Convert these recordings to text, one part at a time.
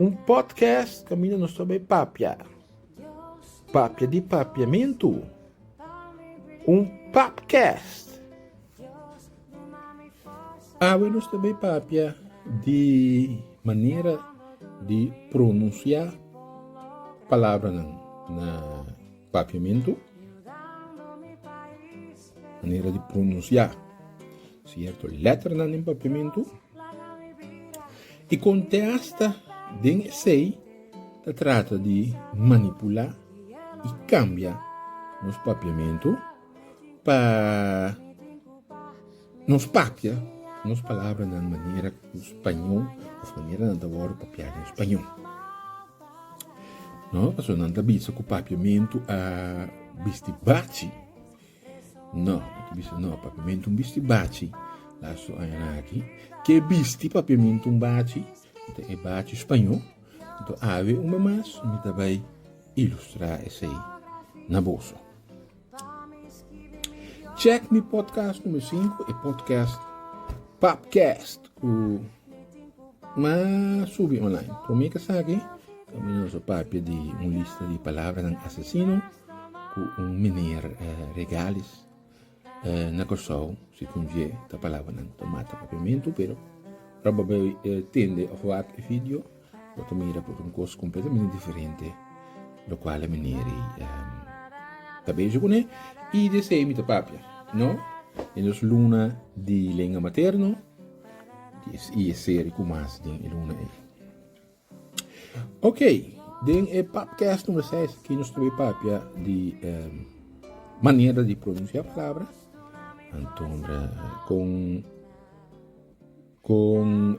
Un podcast caminda nos ta bay papia. Papia di papiamentu. Un papcast. Awe nos ta bay papia di manera di pronuncia palabranan na papiamentu. manera di pronunciá cierto letternan den papiamentu y contesta den esey ta trata di manipulá y cambia nos papiamentu pa nos papia nos palabranan manera cu spañol of manera nan ta wordo papiá den spañol no pasobra nan ta bisa cu papiamentu a bisti bachi. No, papi bisa no, papiamento un bisti bachi la su aña nan aki. Ke bisti papiamento un bachi? Ta e bachi spañó. Nto awe un be mas mi ta bai ilustrá esei na boso. Chèk mi podcast numero 5, e podcast Papcast ku mas subi online. Promé ke saki, ta mira nos papia di un lista di palabranan asesino. ku un miner regalis na Kòrsou, si ku dje ta palabranan ta mata papiamentu, pero ora bo a tende òf wak e vidio bo ta mira ku ta un kos kompletamente diferente lokual e miner ei ta bezig kuné i di esei mi ta papia no den nos luna di lenga materno i e seri ku mas den e luna ei. Ok, den e papkes number seis aki nos ta bai papia di manera di pronunsia palabra, anto kon kon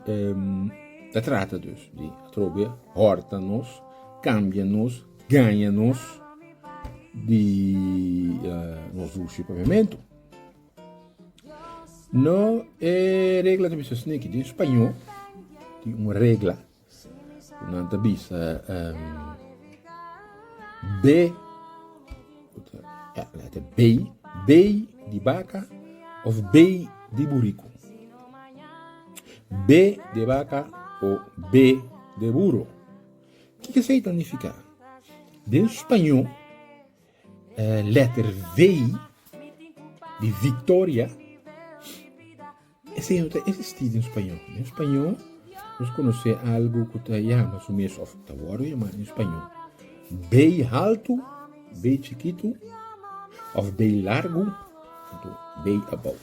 ta trata dus di atrobia horta nos, kambia nos, gaña nos di nos dushi papiamentu. No, e regla ta bisa sneki. Den spañó tin un regla ku nan ta bisa be, bey, bey di baka òf bey di buriku. Be de baka o be de buru. Kiko esei ta nifiká? Den spañó. Letter V di Victoria e sey no ta existi den spaño. Den spaño nos conoce algo cu ta yama su mes of ta worde yama den spaño B haltu, B chikitu of B largu, B abou.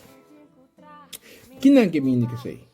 Kinan ke mindi ke sey?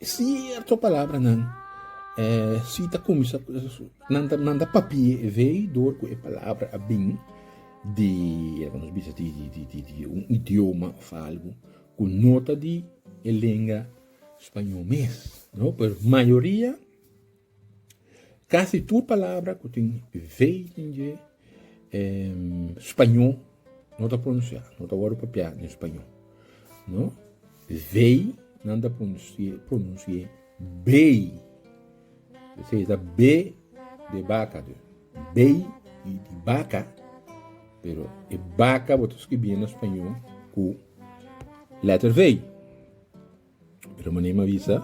Sierto palabranan, si ta cuminsa, nan ta papia e vei dor cu e palabra a bin di loke nos bisa di un idioma of algu cu no ta di e lenga spañol mes, no, pero mayoria. Kasi tur palabra ku tin v den dje e spañó no ta pronusiá, no ta wòrdu propiá den spañó. No, v nan ta pronusié bey, esei ta b de baka dus, bey di baka, pero e baka bo ta skirbié na spañó ku lèter v. Remoné m'a bisa,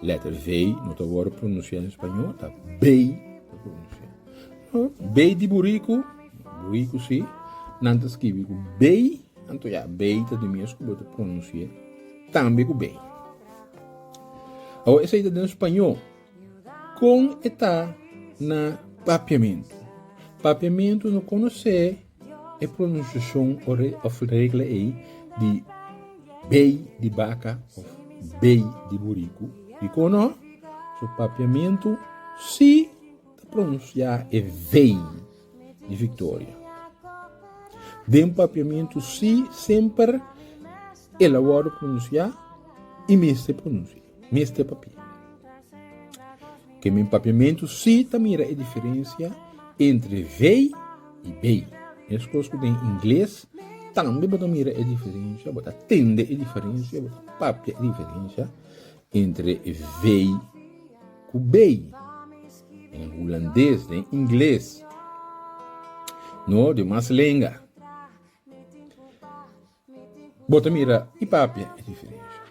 lèter vei no ta wòrdu pronusiá den spañol, ta bey ta pronusiá. No, bey di buriku, buriku sí, nan ta skibi ku bey, anto ya bey ta di mes ku bo ta pronusiá tambe ku bey. Awo esei ta den spañol. Kon e ta na papiamentu? Papiamentu no konosé E pronunciashon òf regla ei di bey di baka òf bey di buriku, dikon no? So papiamentu si ta pronunciá e vey di victoria. Den papiamentu si semper el a wòrdu pronunciá i mester pronunciá, mester papia. Kende den Papiamentu sí ta mira e diferensia entre vei i bay. Meskos ku den ingles, tambe bo ta mira e diferensia, bo ta tende e diferensia, bo ta papia e diferensia entre vei ku bay. Den hulandes, den ingles, no den mas lenga. Bo ta mira i papia e diferensha.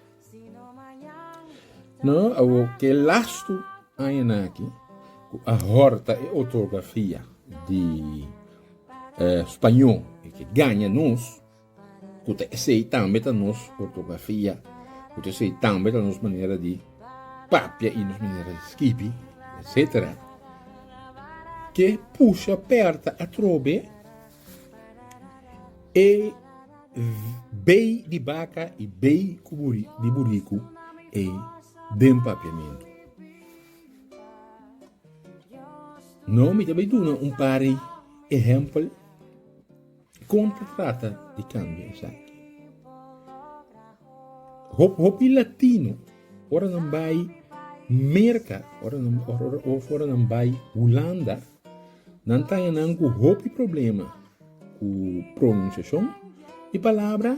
No, awor ku e lastu añanan aki ku a hòrta e ortografia di spañó e ke gaña nos, ku ta esei tambe ta nos ortografia, ku ta esei tambe ta nos manera di papia i nos manera di skibi etsetera, ke pusha pèrta atrobe. E bay di baka i bay di buriku ey den papiamentu. No mi ta bay duna un par di ehempel con ta trata di cambia esaki. Hop hopi latino ora nan bay Merca of ora nan bay Hulanda. Nan ta hañanan ku hopi problema ku pronunsiashon i palabra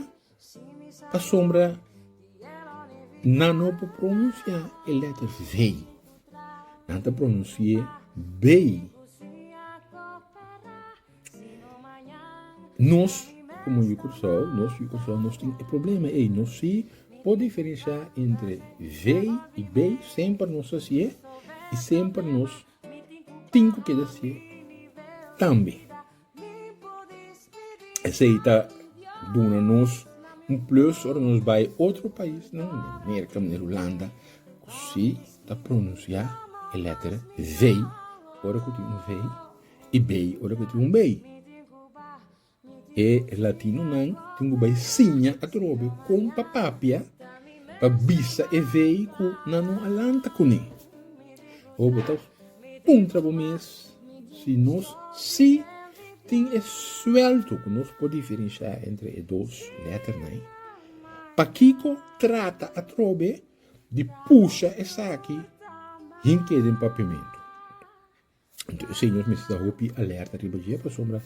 pasobra nan no por pronunsiá e lèter vei. Nan ta pronunsi'é bey. Nos komo yu Kòrsou, nos yu Kòrsou, nos tin e problema ei. Nos si por diferensha entre vei i bey semper nos hasié i semper nos tin ku keda hasié tambe. Esei ta duna nos un plus ora nos bai otro paisnan den Merka manera Hulanda ku si ta pronunsiá e lèter vei ora ku tin un vei i bei ora ku tin un bei. E latinonan tin ku bai siña atrobe kon pa papia pa bisa e vei ku nan no a lanta kuné. Awor bo ta puntra bo mes si nos sí tin e suelto ku nos por diferenshá entre e dos lèternan ei. Pakiko trata atrobe di pusha esaki hinter den papiamentu? Señor mester ta hopi alerta riba dje pasobra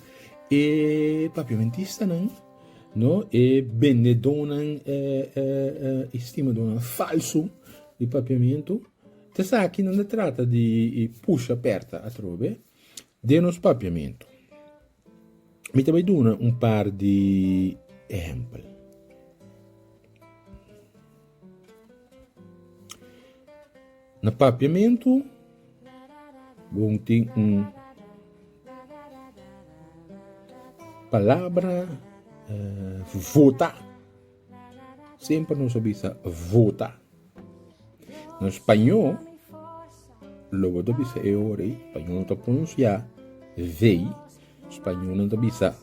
e papiamentistanan, no, e bendedonan, e, e, e estimadonan falso di papiamento, ta esaki nan ta trata di pusha perta atrobe den nos papiamento. Mi ta bai duna un par di ehèmpel. Na papiamentu bon tin un palabra vota, semper nos a bisa vota. No spañó lo bo ta bisa e ora ei, spañó no ta pronunsiá vei, spañó nan ta bisa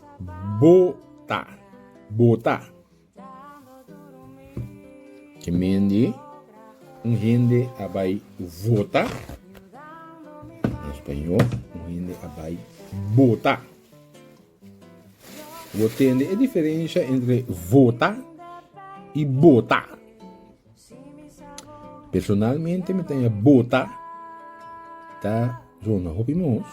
bo ta, bo ta. Ke men di un hende a bai vota, na spañó un hende a bai bota. Bo tende e diferencia entre vota y bota. Personalmente mi ta bota ta zona hopi mos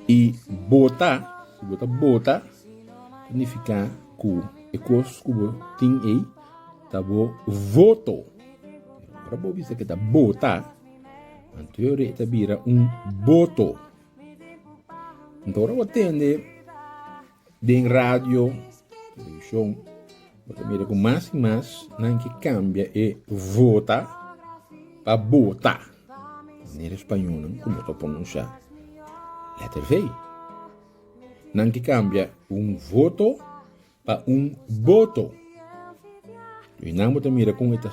y bota si bo ta bota significa cu e cos cu bo tin ey ta bo voto. Ora bo bisa que ta bota anto yo rei ta bira un boto. Nta ora bo tende den radio, televishon, bo ta mira ku mas i mas nan ke kambia e vota pa bota. Manera e spañolnan kuminsha ta pronunshá lèter V. Nan ke kambia un voto Pa un boto. Wi nan bo ta mira kon e ta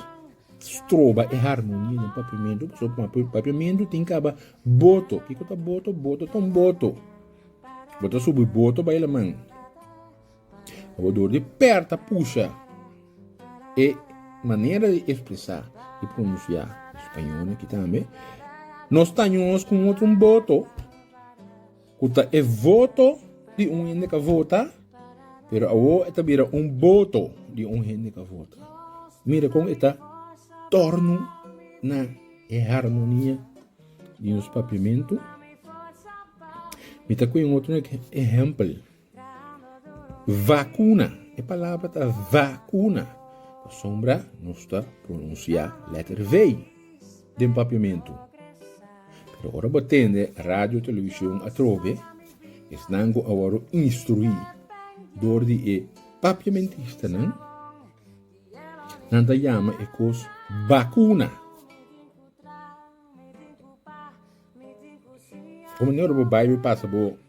stroba e harmonia den papiamentu? Pasobra kuma papiamentu tin kaba boto. Kiko ta boto? Boto ta un boto. Bo ta subi boto bai laman. Ma bo dor di pèrta pusha e manera di ekspresá i pronunsiá spañol aki tambe. Nos ta ños ku un otro un boto. Cu ta e voto di un hende ca vota, pero awor e ta bira un boto di un hende ca vota. Mira con e ta torno na e harmonia di nos Papiamentu. Mi ta cu e un otro ehempel. Vacuna, e palabra ta vacuna, pasobra nos ta pronuncia letter V den papiamentu. Pero ora bo tende radio o television atrobe, esnan cu a wòrdu instrui dor di e papiamentistanan, nan ta yama e cos vacuna. Como ora bo bai bo pasa bo.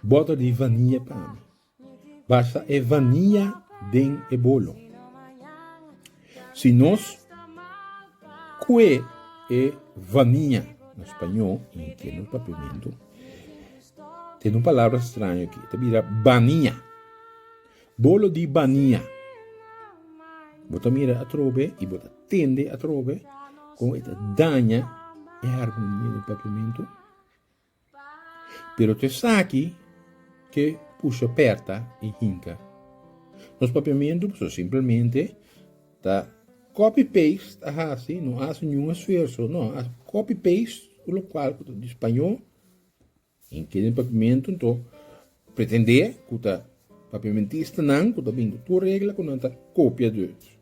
Bota di vanilla pa mi. Basta e vanilla den e bolo. Si nos kue e vanilla na spañó i e keno papiamento, ten un palabra straño aki, ta bira bania. Bolo di bania. Bo ta mira atrobe i bo ta tende atrobe kon e ta daña e harmonia den papiamento. Pero ta esaki ke pusha pèrta i hinka. Nos papiamentu pasobra simplemente ta copy paste a hasi, no a hasi niun esfuerso, no, a hasi copy paste lokual ku ta di spañó i keda den papiamentu, enton Pretendé ku ta papiamentistanan ku ta bin ku tur regla ku nan ta kopiadurnan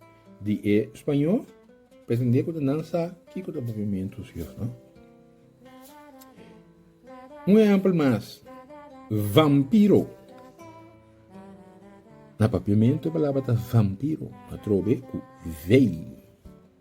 di e spañó, pretendé ku ta nan sa kiko ta papiamentu si yos no. Un ehèmpel mas, vampiro. Na papiamentu e palabra ta vampiro, atrobe ku vei.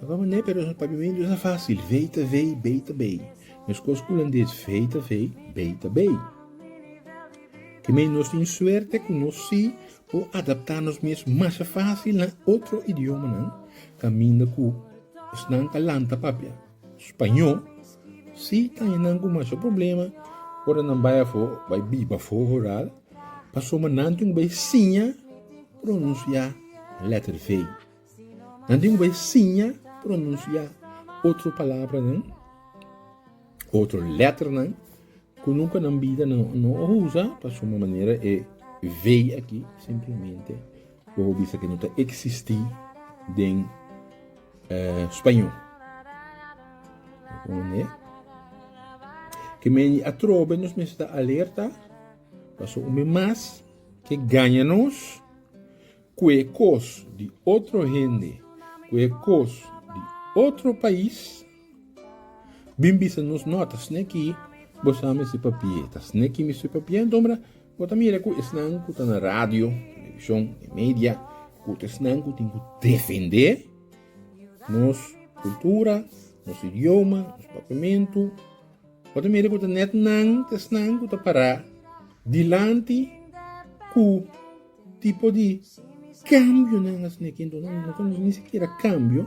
Papá mané pero nos papia mende usa facil vei ta vei bei ta bei mescos cu hulandes vei ta vei bei ta bei ki mey nos tin suerte cu nos si por adapta nos mes masha facil na otro idiomanan caminda cu esnan ta lanta papia spaño si ta haña nan cu masha problema ora nan bay afo bay biba afo horal pasobra nan tin cu bay siña pronuncia letter vei. Nan tin ku bai siña pronunsiá otro palabranan, otro lèternan ku nunka nan bida nan no a usa, pasobra manera e vei aki simplemente bo por bisa ke no ta eksistí den spañó. Responde, Ke men di atrobe nos mester ta alerta, pasobra un mes mas ke gaña nos. Cu e cos di otro hende, cu e cos di otro pais bin bisa nos no ta sneki bo sa mester papia, ta sneki mester papia enton mira bo ta mira cu esnan cu ta na radio, television, e media cu ta esnan cu tin cu defende nos cultura, nos idioma, nos papiamento. Bo ta mira ku ta nèt nan ta esnan ku ta pará dilanti ku tipo di kambionan asina ki enton nan no ta nos ni sikiera kambio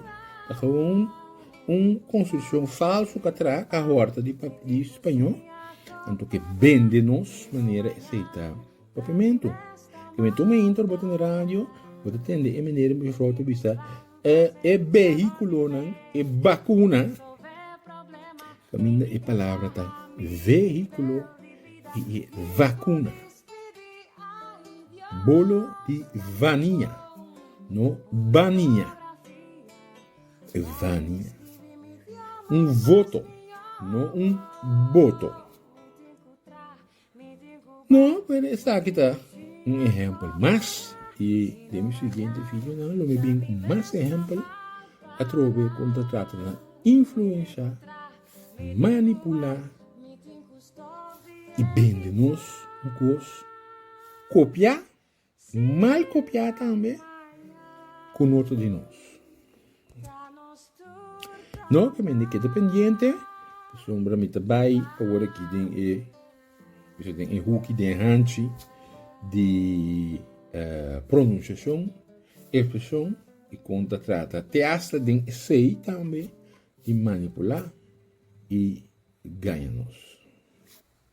ta gewoon un konstrukshon falsu katrá ka hòrta di di spañó anto ke bende nos manera esei ta papimentu. Ke mi tuma intro bo ta na radio bo ta tende e manera mefrou ta bisa E behiculonan, e bacuna, caminda e palabra ta vehiculo y e vacuna, bolo di vania, no bania, e vania, un voto, no un boto. No, pero esaki ta un ehempel mas, i den mi siguiente videonan lo mi bin ku mas ehempel atrobe ku ta trata na influensha, manipulá i bende nos un kos, kopiá. Mal kopiá tambe ku noto di nos. No ke mende keda pendiente pasobra mi ta bai aworakí den e osea den e huki den hanchi di pronunciashon, ekspreshon i kon ta trata te asta den esei tambe di manipulá i gaña nos.